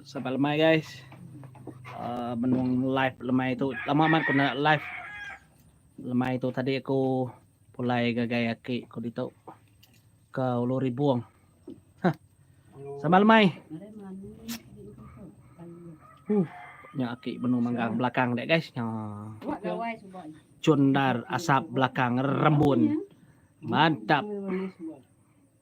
Sabar lemai guys. Uh, menung live lemai tu. Lama amat aku nak live. Lemai tu tadi aku pulai gagai aki aku ditu ke Ulu Ribung. Ha. Sabar lemai. Uh, nya aki benung manggang belakang dek guys. Nya. Cundar asap belakang rembun. Mantap.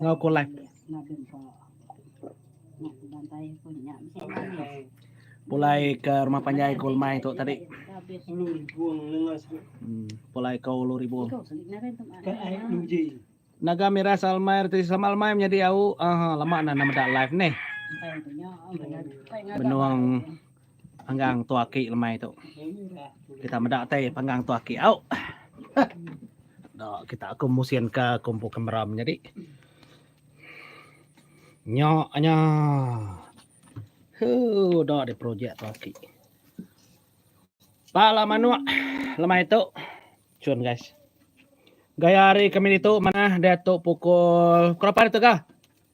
Enggau ko live. Pulai ke rumah panjai ko lemai tu tadi. Hmm, pulai ko ulu ribu. Naga Mira Salmai Reti Sama Almai menyadi au. Ah, lama nah nama dak live neh. Benung Panggang tu aki lemai tu. Kita meda tai panggang tu aki au. Dak kita aku musin ke kumpu kamera menyadi. Nya nya. Hu dak di projek tu aki. Pala manuk lemai tu. Cun guys. Gaya hari kami ditu manah dia tu pukul berapa ditu ga?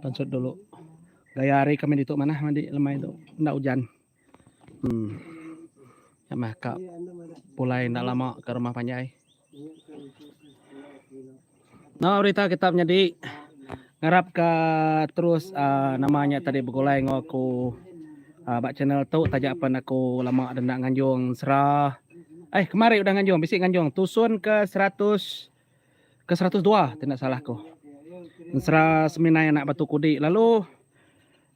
Pansut dulu. Gaya hari kami ditu manah mandi lemai tu. Enda ujan. Hmm. Ya mah ka pulai enda lama ke rumah panjai. No berita kita menyadi. Ngarap ka terus uh, nama nya tadi begulai enggau aku uh, ba channel tu taja pen aku lama dah nda nganjung sera. Eh kemari udah nganjung, bisi nganjung tusun ke 100 ke 102 tidak salah aku. Sera seminai anak batu kudi lalu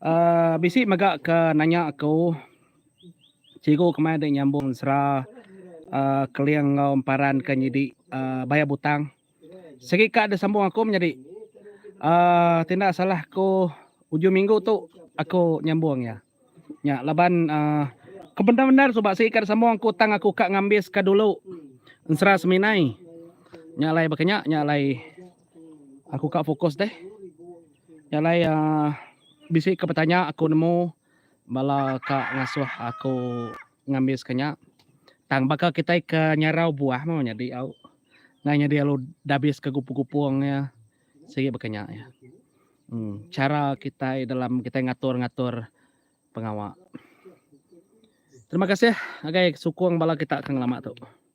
uh, bisi mega ke nanya aku cikgu kemai dah nyambung sera uh, keling enggau emparan ke nyidi uh, bayar butang. Sigi ka de sambung aku menyadi uhh tinda salah aku ujung minggu tu aku nyambung iya. Nya laban uhh ke bendar bendar suba sigi ka de sambung aku tang aku ka ngambis ka dulu ensera seminai. Nya alai baka nya nya alai aku ka fokus deh. Nya alai uhh bisi ka betanya aku nemu bala ka ngasuh aku. Ngambis ke nya. Tang baka kitai ke nyarau buah meh nyadi au. Ngai nyadi alu dabis ke gupung-gupung iya. Sigi baka nya iya. Um chara kitai dalam kitai ngatur-ngatur pengawa. Terima kasih agai sukung bala kita ke ngelama tu.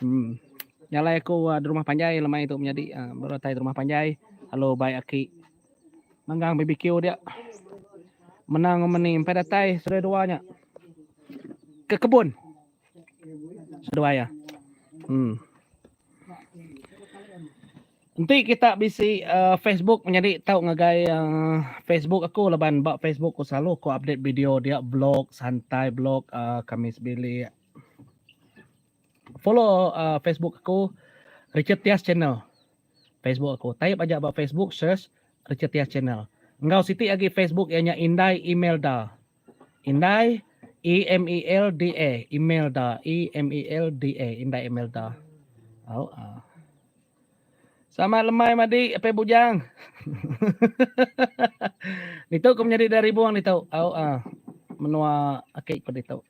Em jalai aku ah, di rumah panjai lemai tu menyadi ah, baru datai di rumah panjai lalu baik aki manggang BBQ dia. Menang rumah ni empai datai saudara dua nya. Ke kebun. Seduai ya. Hmm. Enti kita bisi uh, Facebook menyadi tau ngagai uh, Facebook aku laban ba Facebook aku selalu aku update video dia blog santai blog uh, Kamis bilik Follow Facebook aku Richard Tias Channel. Facebook aku. Type aja ba Facebook search Richard Tias Channel. Enggau siti agi Facebook iya nya Indai Imelda. Indai E M E L D A Imelda E M E L D A Indai Imelda. Au a. Ah. Selamat lemai madi apai bujang. ditu aku menyadi dari ribung ditu. Au a. Ah. Menua akik ku ditu.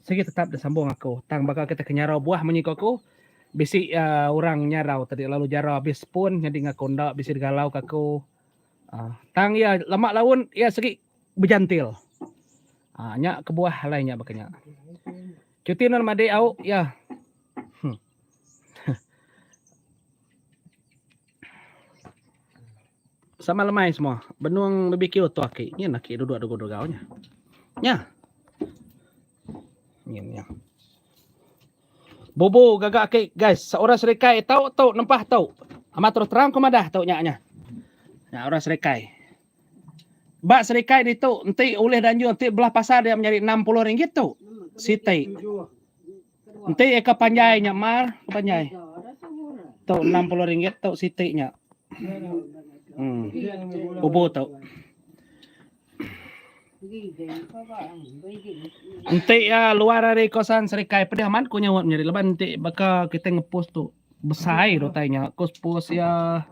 Sigi tetap disambung aku tang baka kita ke nyarau buah munyi ku aku bisi uh, orang nyarau tadi lalu jara habis pun nyadi ngaku enda bisi digalau ke aku uh, tang ia lama laun ia segi bejantil uh, nya kebuah alai nya baka nya cuti nan madi au ya hmm. Sama lemai semua. Benung BBQ tu aki. Nyin aki duduk dugu dugau nya. Nya. Nyin nya. Bubu gaga aki guys. Seorang serikai tau tu nempah tu. Amat terus terang ku madah tu nya nya. Nya orang serikai. Ba serikai ditu enti ulih danjur enti belah pasar dia menyadi 60 ringgit tu. Siti. Enti eka panjai nya mar ke panjai. Tu enam puluh ringgit tu siti nya. Hmm. Ubu tu. Enti ya luar hari kosan serikai pedih amat ku nyawat nyeri leban enti baka kita ngepus tu besai dotai nya kus pus ya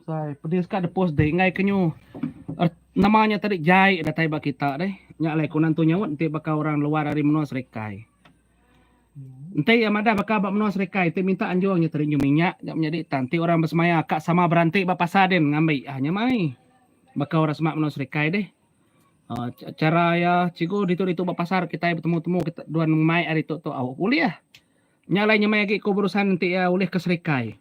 Sai pedis ka depus deh enggai kenyu er, nama nya tadi jai datai ba kita deh. Nya alai kunan tu nyaut enti baka orang luar ari menua serikai. Enti iya madah baka ba menua serikai enti minta anjung nya tadi nyu minyak nya menyadi tang enti orang besemaya ka sama beranti ba pasar din ngambi ah nya mai. Baka orang semak menua serikai deh. Uh, cara iya cikgu ditu-ditu ba pasar kitai betemu-temu kita duan mai ari tu tu au ulih. Nya alai nya mai agi ku berusan enti iya ulih ke serikai.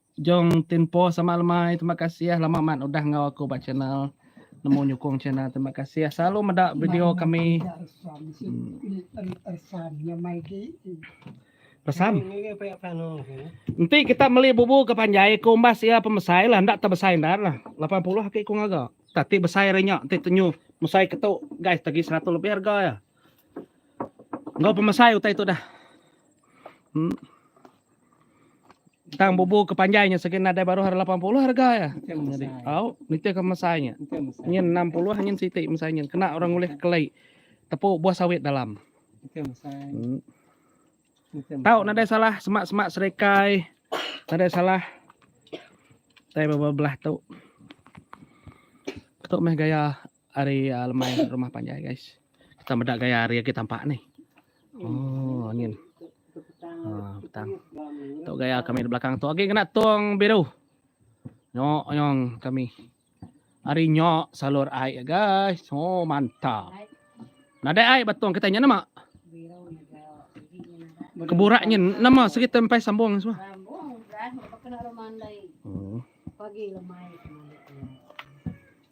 Jong Tempo sama lemai terima kasih lama amat udah enggau aku ba channel nemu nyukung channel terima kasih selalu meda video kami Pesam Enti kita meli bubu ke panjai ke umbas ia pemesai lah enda tebesai ndar lah 80 aki ku ngaga tak ti besai ari nya ti tenyu mesai ke tu guys tagi 100 lebih harga ya enggau pemesai utai tu dah hmm. Tang bubu ke panjai nya segi nadai baruh ari 80 harga ya. Jadi au nitih ke mesai nya. Nyin 60 nyin siti mesai nyin kena orang ulih kelai tepu buah sawit dalam. Hmm. Tau nadai salah semak-semak serikai. Nadai salah. Tai belah tu. Tu meh gaya Ari uh, lemai rumah panjai guys. Kita meda gaya hari lagi tampak ni. Oh, angin. Ah, petang. Tu gaya kami di belakang tu. Okey kena tong biru. Nyok nyong kami. Hari nyok salur air guys. Oh, mantap. Nadai air batong kita nya nama? Keburaknya nama segi tempai sambung semua. Sambung, dah, kena rumah andai. Hmm. Pagi lemai.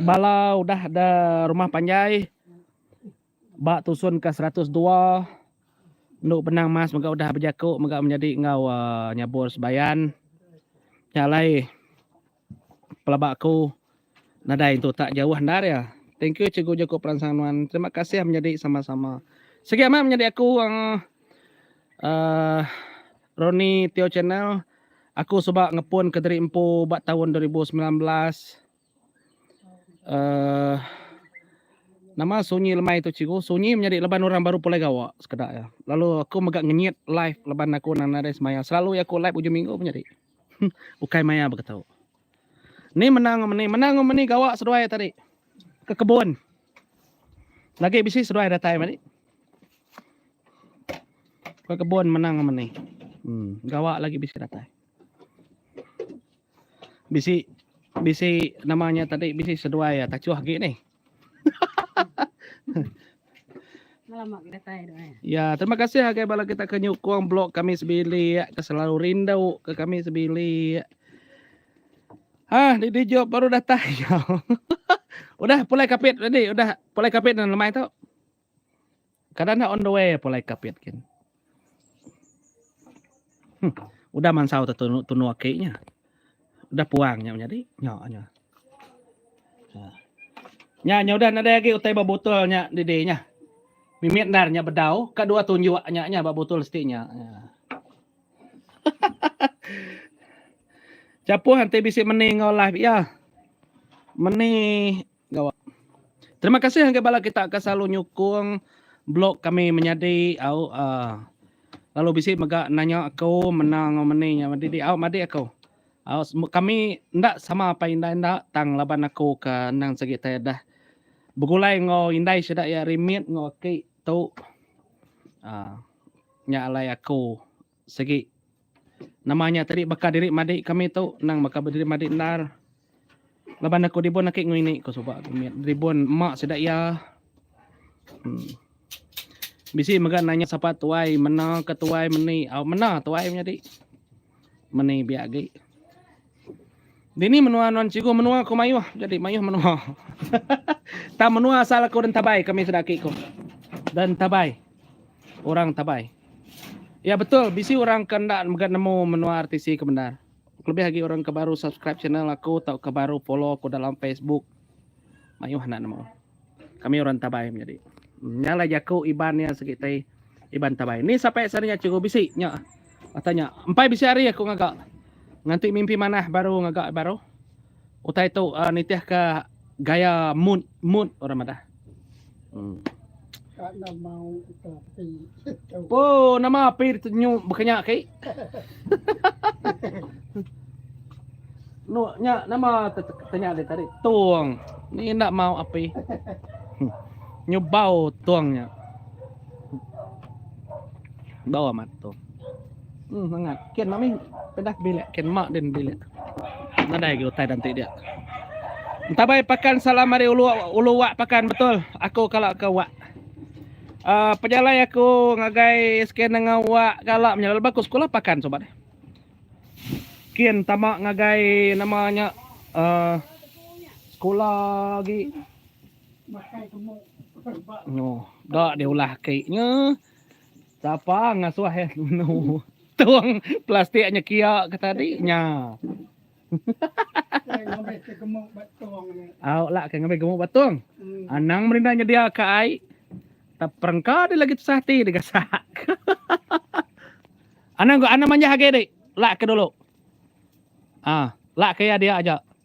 Bala udah da rumah panjai ba tusun ke seratus dua enu benang mas mega udah bejaku mega menyadi enggau aaa nyabur sebayan nya alai pelaba aku nadai tu tak jauh endar iya. Thank you cikgu jaku peransang nuan. Terima kasih menyadi sama-sama. Sigi amat menyadi aku aaa Roni Teo Channel, Aku suba ngepun ke diri empu ba taun dua ribu semilan belas. Uh, nama sunyi lemai tu cikgu? Sunyi menyadi leban orang baru pulai gawa sekeda ya. Lalu aku mega ngenyit live leban aku nang nadai semaya. Selalu ya aku live ujung minggu menyadi. Ukai maya baka tu. Ni menang ngam ni, menang ngam ni gawa seduai tadi. Ke kebun. Lagi bisi seduai datai mari. Ke kebun menang ngam ni. Hmm, gawa lagi bisi datai. Bisi bisi namanya tadi bisi seduai tachuh gi ni. Alamak kita tai dah. Eh. Ya, terima kasih agai bala kita ke nyukung blog kami sebilik, ya, ke selalu rindu ke kami sebilik. Ya. Ah, di di job baru datang. Ya. udah pulai kapit tadi, udah pulai kapit dan lemai tu. Kada enda on the way pulai kapit kin. Hmm. Udah mansau tu tunu, tunu aki nya. Udah puang nya menyadi. Nya nya. Ha. Nya nya udah nadai lagi utai ba botol nya didi nya. Mimit ndar nya bedau ka dua tunjuk nya nya ba botol siti nya. nya. Chapuh enti bisi meni ngau live iya. Meni Gawa. Terima kasih ngagai bala kita ke selalu nyukung blog kami menyadi au uh, lalu bisi mega nanya aku menang au meni nya madi di au madi aku. Au kami enda sama apa indai enda tang laban aku ke nang segi tai dah begulai enggau indai sida iya rimit enggau aki tu. Uh, nya alai aku. Segi nama nya tadi baka diri madi kami tu nang baka diri madi endar. Laban aku dibun aki ngini ku suba aku mit ribun mak sida iya. Hmm. Bisi mega nanya sapa tuai mena ke tuai meni. Au mena tuai menyadi. Meni biak agi. Dini menua nuan cikgu menua ku mayuh jadi mayuh menua. Tang menua asal aku dan tabai kami sudah aki ku. Dan tabai. Orang tabai. Ya betul bisi orang ke enda mega nemu menua RTC ke bendar. Kelebih agi orang ke baru subscribe channel aku tauka baru follow aku dalam Facebook. Mayuh enda nemu. Kami orang Tabai menyadi. Nya alai jaku Iban nya segi ti Iban Tabai. Ni sapai sehari nya cikgu bisi nya. Ata nya. Empai bisi hari aku ngaga. Nganti mimpi manah baru ngaga baru. Utai tu uh, nitihka gaya mood mood orang madah. Hmm. Oh, nama api ditunyu bekenya ki? Nuk nya nama tanya dia tadi? Tung. Ni ndak mau api. Nyubau tungnya. Bau amat tung. Hmm, mangat. Ken mami pedah bilik. Ken mak din bilik. Nadai ke utai danti dia. Entabai pakan salam mari ulu ulu wak pakan betul. Aku kala ke wak. Uh, pejalai aku ngagai scan dengan wak kala menyala lepas aku sekolah pakan sobat. Ken tama ngagai nama nya uh, sekolah lagi. No, dak diulah keknya. Sapa ngasuh eh menu tong plastik nya kia ke tadi nya. Kai ngambi ke gemuk ba tong ni. Au la kai ngambi gemuk ba tong. Hmm. Anang merinda nyedia ke ai. Tak perengka di lagi tusah ti di gasak. anang anang manjah agi di. La ke dulu. Ah, la ke ya dia aja.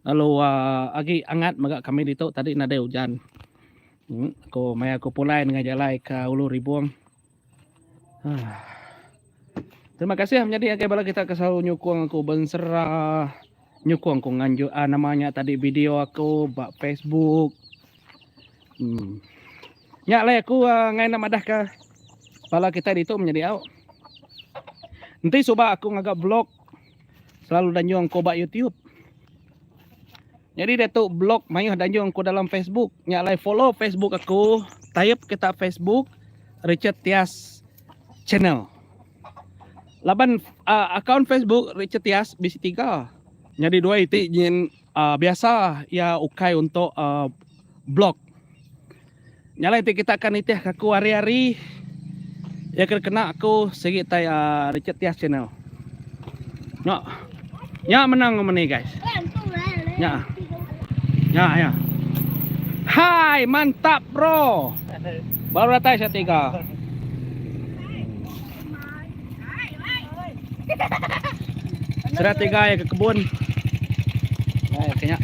Lalu uh, agi angat mega kami ditu tadi nadai ujan. Hmm, aku maya aku pulai dengan jalai ke Ulu Ribung. Ah. Terima kasih menjadi agai bala kita ke selalu nyukung aku bensera nyukung aku nganjuk uh, ah, namanya tadi video aku ba Facebook. Hmm. Nya lai aku uh, ngai nak madah ke bala kita ditu menjadi au. Nanti suba aku ngaga blog Selalu danjung ko ba YouTube. Jadi dia tu blog mayuh danjung ko dalam Facebook. Nya alai follow Facebook aku. Type kita Facebook Richard Tias Channel. Laban uh, akaun Facebook Richard Tias bisi tiga. Jadi dua iti nyin Biasa iya ukai untuk blog. Nya alai ti kita ka nitihka aku hari-hari. Iya ke dikena aku sigi tai Richard Tias Channel. Nya. Nya menang nama ni guys. Nya. Nya ya. Hai mantap bro. Baru datai setiga. Serat tiga ya ke kebun. Nah, ya kenya.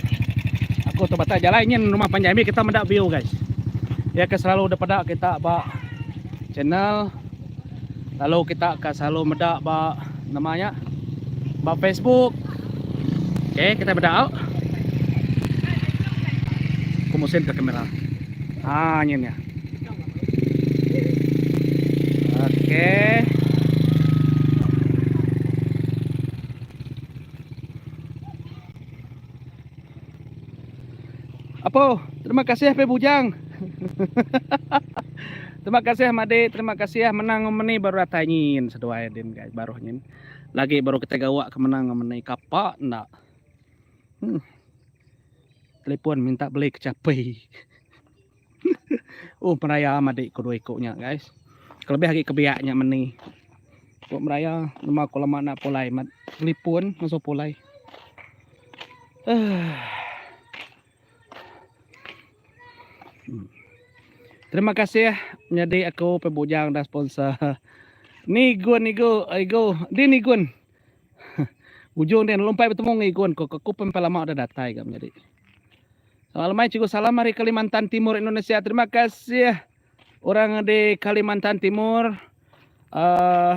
Aku tu batai jalan nyin rumah panjai mi kita meda view guys. Ya ke selalu daripada kita ba channel lalu kita ka selalu meda ba namanya ba Facebook. Okey, kita meda au. Aku musin ke kamera. Ah, nyin ya. Apoh, terima kasih pe bujang. terima kasih Made, terima kasih menang ngemeni baru datai nyin seduai din guys baru nyin. Lagi baru kita gawa ke menang ngemeni kapa nda. Hmm. Telepon minta beli kecapi. Huh meraya madi ku dua iku nya guys. Kelebih agi kebiak nya meni. Ku meraya lema ku lama enda pulai mat telefon masu pulai. Uh. Terima kasih menyadi aku pe bujang dah sponsor. Ni gun igu igu di ni gun. Ujung dia lompat bertemu ngi gun ku ku pun lama dah datai ga menyadi. Selamat lemai Cikgu Salam dari Kalimantan Timur Indonesia. Terima kasih orang di Kalimantan Timur. Uh,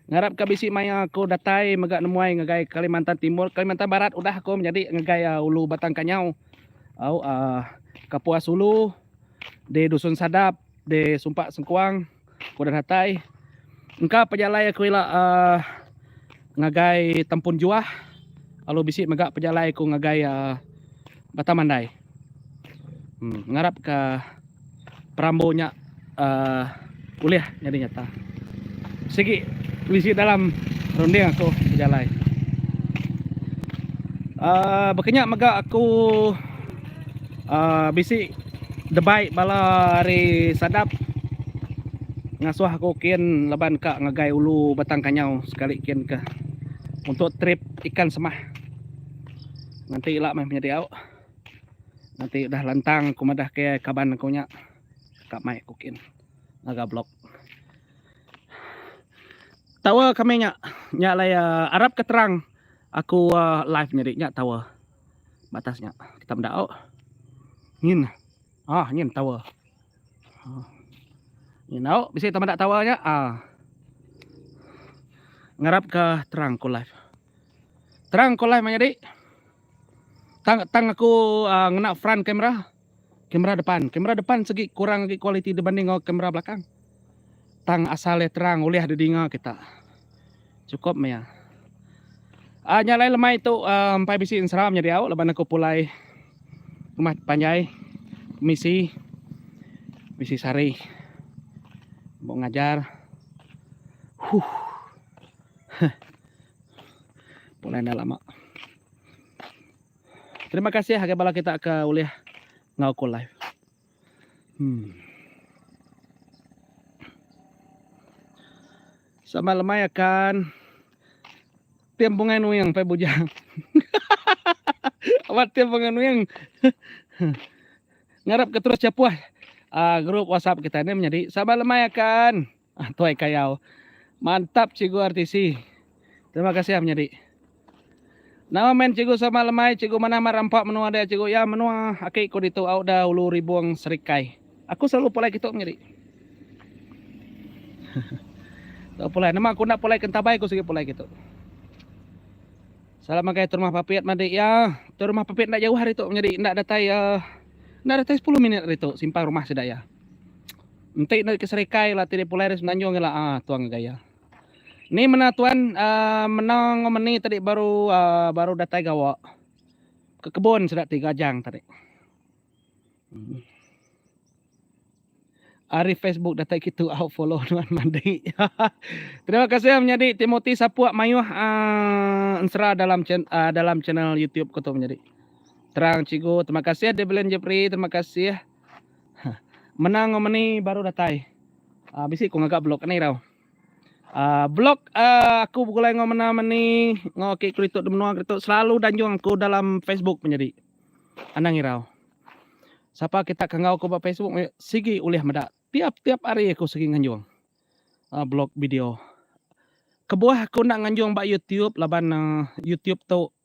ngarap ke bisi maya aku datai mega nemuai ngagai Kalimantan Timur. Kalimantan Barat udah aku menjadi ngagai uh, Ulu Batang Kanyau. Au uh, Kapuas Ulu di Dusun Sadap di Sumpak Sengkuang. Aku dah datai. Engka pejalai aku ila uh, ngagai tempun juah. Lalu bisi mega pejalai aku ngagai uh, Batang Mandai. Hmm, ngarap ke perambu nya uh, ulih jadi nyata. Sigi bisi dalam runding aku pejalai. Uh, bekenyak mega aku Uh, bisi debai bala ari Sadap ngasuh aku kin laban ka ngagai ulu Batang Kanyau sekali kin ke untuk trip ikan semah. Nanti ila mai menyedi au. Nanti udah lantang aku madah ke kaban aku nya ka mai aku kin ngaga blog. Tawa kami nya nya lai uh, arap ke terang aku uh, live nyedi nya tawa. batas nya kita meda oh nyin ah nyin tower ah. nyin au bisi kita meda tower nya ah ngarap ke terang ko live terang ko live menyadi tang tang aku uh, ngena front camera Kamera depan, kamera depan segi kurang agi kualiti dibanding enggau kamera belakang. Tang asal iya terang ulih didinga kita. Chukup meh iya. Ah nya alai lemai tu uh, empai bisi enseram nya diau laban aku pulai rumah panjai misi misi sari. Buk ngajar. Huh. Huh. Pulai dah lama. Terima kasih agai bala kita ke ulih ngau ku live. Hmm. Sama lemai akan tim bungai nuing pai bujang. Awak tim bungai nuing. Ngarap ke terus cepuh uh, ah, grup WhatsApp kita ni menjadi sama lemai akan. Ah tuai kayau. Mantap cikgu RTC. Terima kasih ah menyadi. Nama main cikgu sama lemai cikgu manah mat rampa menua dia cikgu ya menua aki ku ditu au da ulu ribung serikai. Aku selalu pulai kitu menyadi. Tau pulai nama aku enda pulai ke entabai aku sigi pulai kitu. Salam magai Turumah Papit madi ya. Turumah Papit enda jauh ari tu menyadi enda datai uh, enda datai 10 minit ari tu simpang rumah sida ya. Enti nda ke serikai la ti di pulai di semenanjung ila ah tuang ke gaya. Ni mena tuan uh, mena ngo meni tadi baru uh, baru datai gawa ke kebun sida ti gajang tadi. Hmm. Ari Facebook datai kitu au follow tuan mandi. Terima kasih menyadi Timothy Sapuk mayuh uh, ensera dalam chen, uh, dalam channel YouTube ko tu menyadi. Terang cikgu, terima kasih Develin Jepri, terima kasih. Menang ngau meni baru datai. Uh, ah, bisi ku ngaga blog ni tau. Uh, ah, blog uh, ah, aku begulai ngau mena meni ngau ke kritok di menua kritok selalu danjung aku dalam Facebook menjadi. Anang irau. Siapa kita kenggau aku ba Facebook sigi ulih meda. Tiap-tiap hari aku sigi nganjung. Uh, blog video. Kebuah aku nak nganjung ba YouTube laban uh, YouTube tu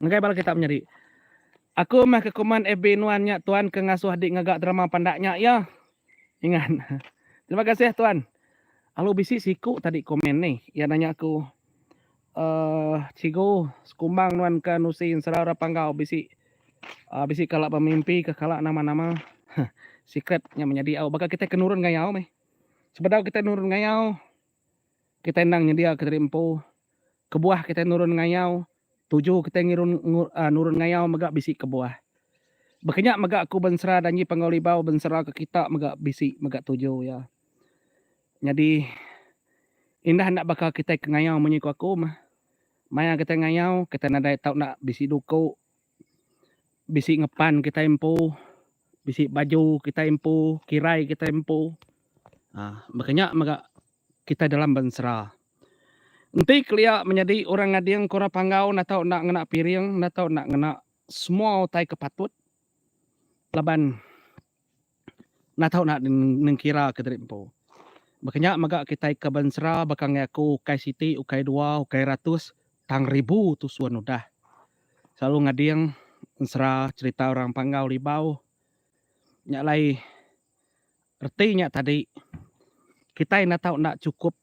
Ngagai bala kita menyadi. Aku meh ke komen FB nuan nya tuan ke ngasuh dik ngaga drama pandak nya ya. Ingat. Terima kasih tuan. Alu bisi siku tadi komen ni. Iya nanya aku uh, cigu sekumbang nuan ke nusi ensera orang panggau bisi uh, bisi kala pemimpi ke kala nama-nama. Secret nya menyadi au baka kita ke nurun ngayau meh. Sebedau kita nurun ngayau Kitai endang nyediaka diri empu. Kebuah kitai nurun ngayau, tuju kitai ngirun nurun ngayau mega bisi kebuah. Baka nya mega aku bensera Danji Panggau Libau benseraka kita mega bisi mega tuju iya. Nyadi indah enda baka kitai ke ngayau munyi ku aku meh. Maya kitai ngayau, kitai nadai tau enda bisi duku. bisi ngepan kitai empu bisi baju kitai empu kirai kitai empu um baka nya mega kitai dalam bensera enti kelia menyadi orang ngading ke orang panggau enda tau enda ngena piring enda tau enda ngena semua utai ke patut laban Enda tau nak nengkira ke diri empu. Baka nya mega kitai ke bensera baka angai aku ukai siti ukai dua ukai ratus tang ribu tusun udah selalu ngading ensera cherita orang Panggau Libau. Nya alai reti nya tadi kitai enda tau enda chukup.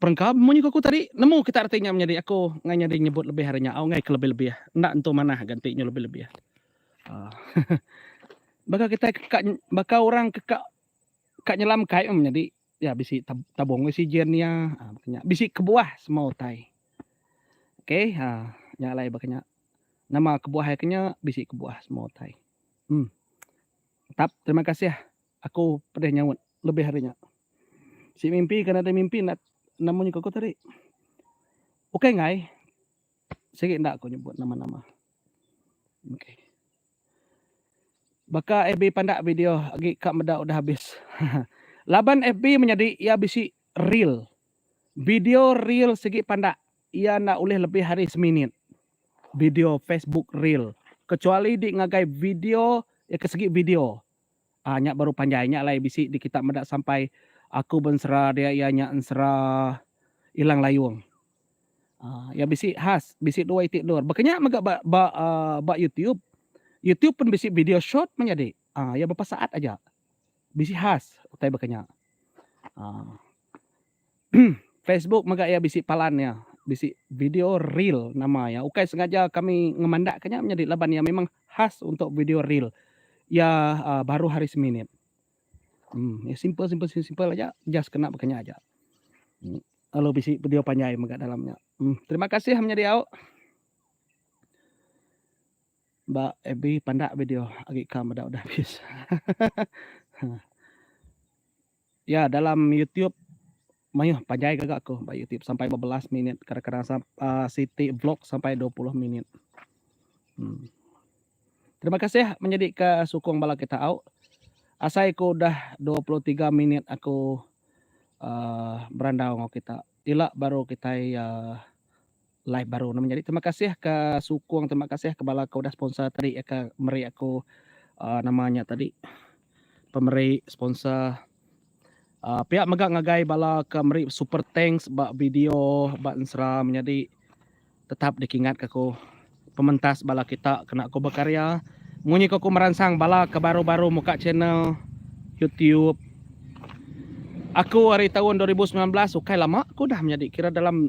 Perengkau munyi ku aku tadi, nemu kita reti nya menyadi aku ngai nyadi nyebut lebih ari nya au ngai ke lebih-lebih. Enda entu manah ganti nyu lebih-lebih. Baka kitai ke ka baka orang ke ka ka nyelam kai meh menyadi ya bisi tabung oksigen iya baka nya bisi kebuah semua utai. Okay ha nya alai baka nya. Nama kebuah iya ke nya bisi kebuah semua utai. Em. Tetap terima kasih. Aku pedih nyaut lebih ari nya. Si mimpi ke nadai mimpi enda enda munyi ke aku tadi. Ukai enggai sigi enda aku nyebut nama-nama. Okey. Baka FB pandak video agi ka meda udah habis. Laban FB menyadi iya bisi reel. Video reel sigi pandak iya enda ulih lebih ari seminit. Video Facebook reel kecuali di ngagai video iya ke segi video. Ah nya baru panjai nya alai bisi di kita meda sampai aku bensera dia iya nya ensera ilang layung. Ah iya bisi khas bisi dua iti endur baka nya mega ba ba ah ba youtube. Youtube pun bisi video short meh nyadi. Ah iya bepa saat aja. Bisi khas utai baka nya. Ah. Facebook mega iya bisi palan iya bisi video reel nama iya ukai sengaja kami ngemandak ka nya menyadi laban iya memang khas untuk video reel iya aaa baruh ari seminit emm iya simple simple simple simple aja just kena baka nya aja lalu bisi video panjai mega dalam nya emm terima kasih menyadi au ba fb pandak video agi ka meda udah habis hahaha. Ya dalam YouTube mayuh panjai gaga aku ba YouTube sampai bebelas minit kadang-kadang sam, uh, siti vlog sampai 20 minit. Hmm. Terima kasih menjadi ke sukung bala kita au. Asai ku dah 23 minit aku uh, berandau ngau kita. Ila baru kita uh, Live baru nama nyadi terima kasih ka sukung terima kasih ka bala ka udah sponsor tadi ka meri aku uh, nama nya tadi pemeri sponsor uh, pihak mega ngagai bala ka meri super thanks ba video ba ensra menyadi tetap dikingat ka aku pementas bala kita kena aku berkarya munyi aku meransang bala ka baru-baru muka channel YouTube aku hari tahun 2019 ukai lama aku dah menyadi kira dalam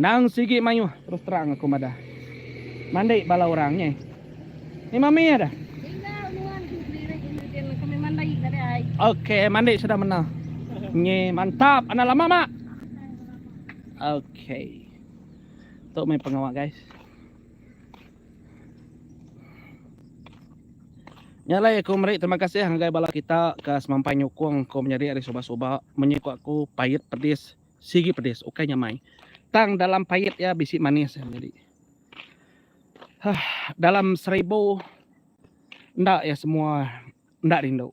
Endang sigi mayuh terus terang aku madah. Mandi bala orang nyeh. Ni mami ya dah. Tinggal nuan tu sedirik ini din leka meh mandi ka deh ai. Ok mandi sudah mena. Nyi mantap anak lama mak. Ok. Tu meh pengawa guys. Nya alai aku meri terima kasih ngagai bala kita ke semampai nyukung aku menyadi ari suba suba. Munyi ku aku pait pedis. Sigi pedis ukai nyamai. Tang dalam pait iya bisi manis iya nyadi. Huh, dalam seribu enda iya semua enda rindu.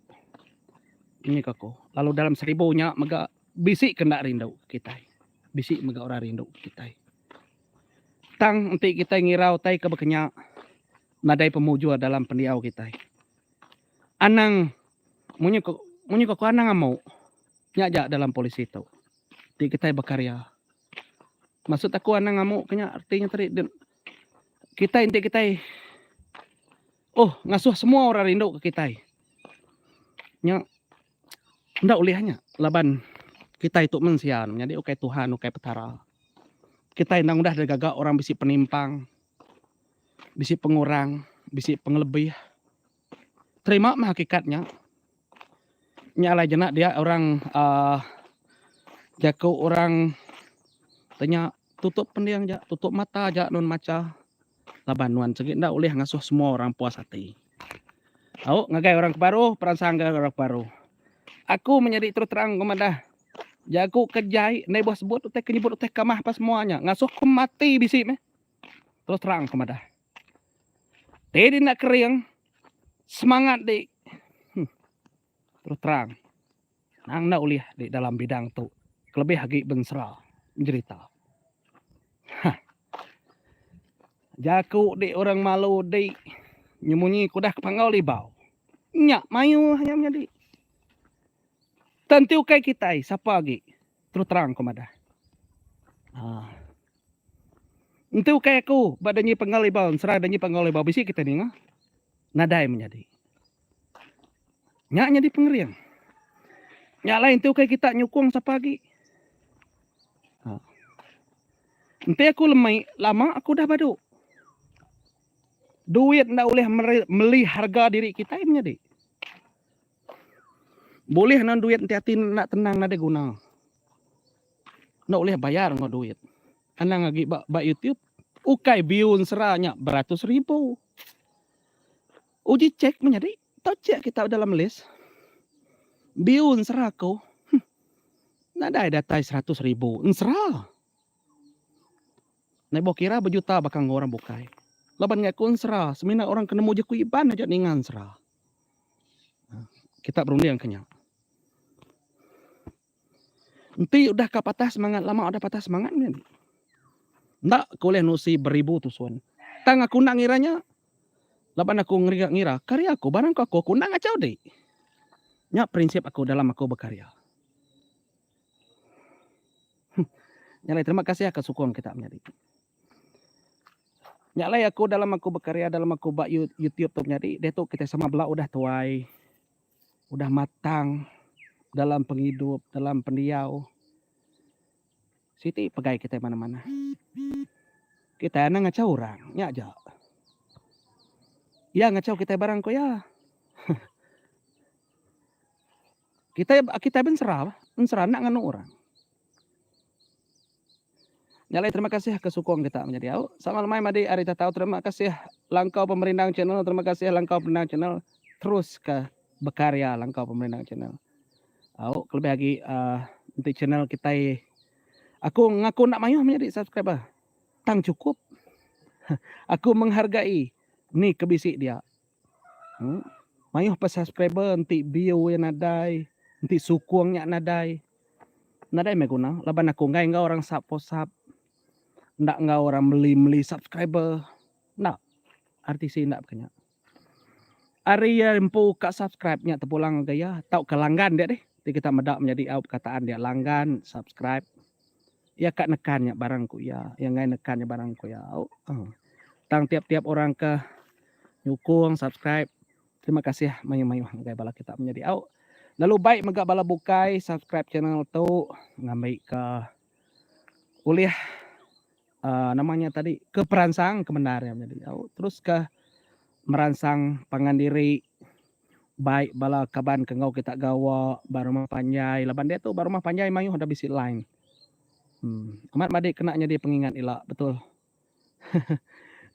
Ini ke aku. Lalu dalam seribu nya mega bisi ke enda rindu kitai. Bisi mega orang rindu kitai. Tang enti kitai ngirau utai ke bekenya nadai pemujur dalam pendiau kitai. Anang munyi ke munyi ke aku anang amu. Nya aja dalam polisi tu. Ti kitai bekaria. Maksud aku anang amu ke nya arti nya tadi kitai enti kitai oh ngasuh semua orang rindu ke kitai. Nya enda ulih nya laban kitai tu mensia menyadi ukai Tuhan ukai petara. Kitai endang udah digaga orang bisi penimpang bisi pengurang bisi pengelebih. Terima meh hakikat nya. Nya alai jenak dia orang uh, jaku orang tanya tutup pending ja, tutup mata ja nun macha laban nuan sigi enda ulih ngasuh semua orang puas ati. Au ngagai orang ke baru, peransang ngagai orang ke baru. Aku menyadi terus terang ke madah. Jaku ke jai ndai buah sebut utai ke nyebut utai kamah apa semua nya. Ngasuh ku mati bisi meh. Terus terang ke madah. Tei di enda kering. Semangat di hmm, terus terang. Nang enda ulih di dalam bidang tu. Kelebih agi bensera. Menjerita. Hah. Jaku di orang malu di. Nyemunyi kudah ke panggau libau. Nyak mayuh yang menyadi. Tentu kai kitai. Siapa agi. Terus terang ku madah. Ah. Entu ukai aku ba danyi penggal ibau ensera danyi penggal ibau bisi kita ninga. Nadai menyadi. Nya nyadi pengering. Nya alai entu ukai kita nyukung sapa agi. Ah. Enti aku lemai lama aku dah badu. Duit enda ulih meli harga diri kitai menyadi. Bulih enda duit enti ati enda tenang nadai guna. Enda ulih bayar enggau duit. Anang agi ba ba YouTube ukai view ensera nya beratus ribu. Uji check menyadi tau check kita dalam list view ensera aku huh nadai datai seratus ribu ensera. Nadai bauh kira bejuta baka enggau orang bukai. Laban ngaku ensera semina orang ke nemu je ku Iban aja ninga ensera. Kitab runding ke nya. Enti udah ka patah semangat, lama udah patah semangat mih. Enda ke ulih nusi beribu tusun. Tang aku enda ngira nya. Laban aku ngira, ngira karya aku, barang ke aku, aku enda ngachau diri. Nya prinsip aku dalam aku bekarya. Nya alai terima kasih akan sukung kita menyadi. Nya alai aku dalam aku bekarya dalam aku ba YouTube tu menyadi diatu kita sama bala udah tuai udah matang dalam pengidup dalam pendiau siti pegai kita manah manah. Kita anak ngachau orang nya aja. Iya ngachau kita barang ko iya. Kitai kitai bensera bah, bensera enda nganu orang. Nya alai terima kasih ke sukung kita menyadi au. Sama lemai madi ari tatau terima kasih Langkau Pemerindang Channel, terima kasih Langkau Pemerindang Channel teruska bekarya Langkau Pemerindang Channel. Au kelebih agi uh, enti channel kitai aku ngaku enda mayuh menyadi subscriber. Tang cukup. aku menghargai ni kebisi dia. Hm. Mayuh pa subscriber enti view iya nadai, enti sukung nya nadai. Nadai meh guna laban aku enggai enggau orang sub for sub. Enda enggau orang meli meli subscriber. Enda. RTC enda baka nya. Ari iya empu ka subscribe nya tepulang ngagai iya tauka langgan dia deh. Ti kita meda menyadi au bekataan dia langgan, subscribe. Iya ka nekan nya barang ku iya. Iya enggai nekan nya barang ku iya. Au. Tang tiap tiap orang ke nyukung subscribe terima kasih mayuh mayuh ngagai bala kita menyadi au. Lalu baik mega bala bukai subscribe channel tu ngambi ke ulih uh, nama nya tadi ke peransang ke bendar yang jadi au terus ke meransang pangan diri baik bala kaban ke ngau kita gawa ba rumah panjai laban dia tu ba rumah panjai mayuh ada bisi line hmm. amat madik kena jadi pengingat ila betul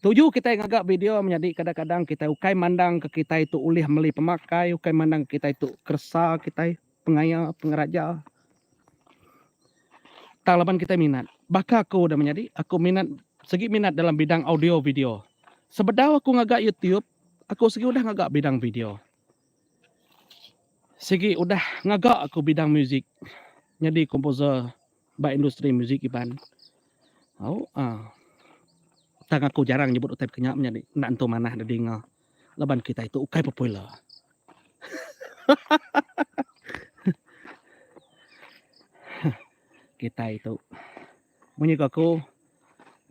Tuju kita ngaga video menjadi kadang-kadang kita ukai mandang ke kita itu ulih meli pemakai, ukai mandang kita itu kersa kita Pengaya pengeraja tang laban kitai minat. Baka aku udah menyadi, aku minat segi minat dalam bidang audio video. Sebedau aku ngaga YouTube, aku segi udah ngaga bidang video. Sigi udah ngaga aku bidang musik nyadi komposer ba industri musik Iban. Au a. Tang aku jarang nyebut utai baka nya menyadi enda entu manah da dinga. laban kitai tu ukai popular. kitai tu munyi ku aku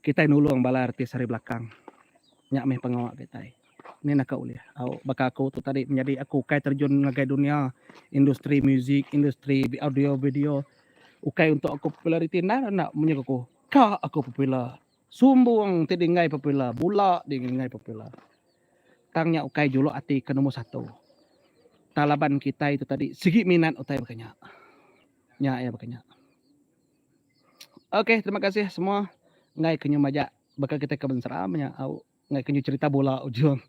kitai nulung bala artis ari belakang nya meh pengawa kitai ni naka ulih au baka aku tu tadi menyadi aku ukai terjun ngagai dunia industri muzik industri audio video ukai untuk aku populariti endang enda munyi ku aku ka aku popular. Sumbung ti dienggai popular bula dienggai popular tang nya ukai juluk ati ke nombor satu tang laban kitai tu tadi sigi minat utai baka nya. Nya iya baka nya. Ok terima kasih semua enggai ke nyau majak baka kitai ke Mensera menya au. Ngai kenyu cerita bola ujung.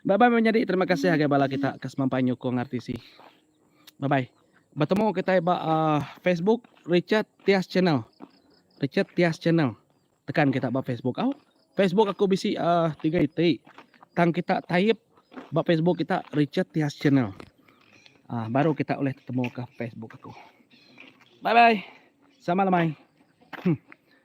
Bye bye menyadi terima kasih agai bala kita ke semampai nyukung RTC. Bye bye. Bertemu kita ba uh, Facebook Richard Tias Channel. Richard Tias Channel. Tekan kita ba Facebook. Oh, Facebook aku bisi uh, tiga iti. Tang kita type ba Facebook kita Richard Tias Channel. Uh, baru kita boleh temu ke Facebook aku. Bye bye. Sama lemai. Hmm.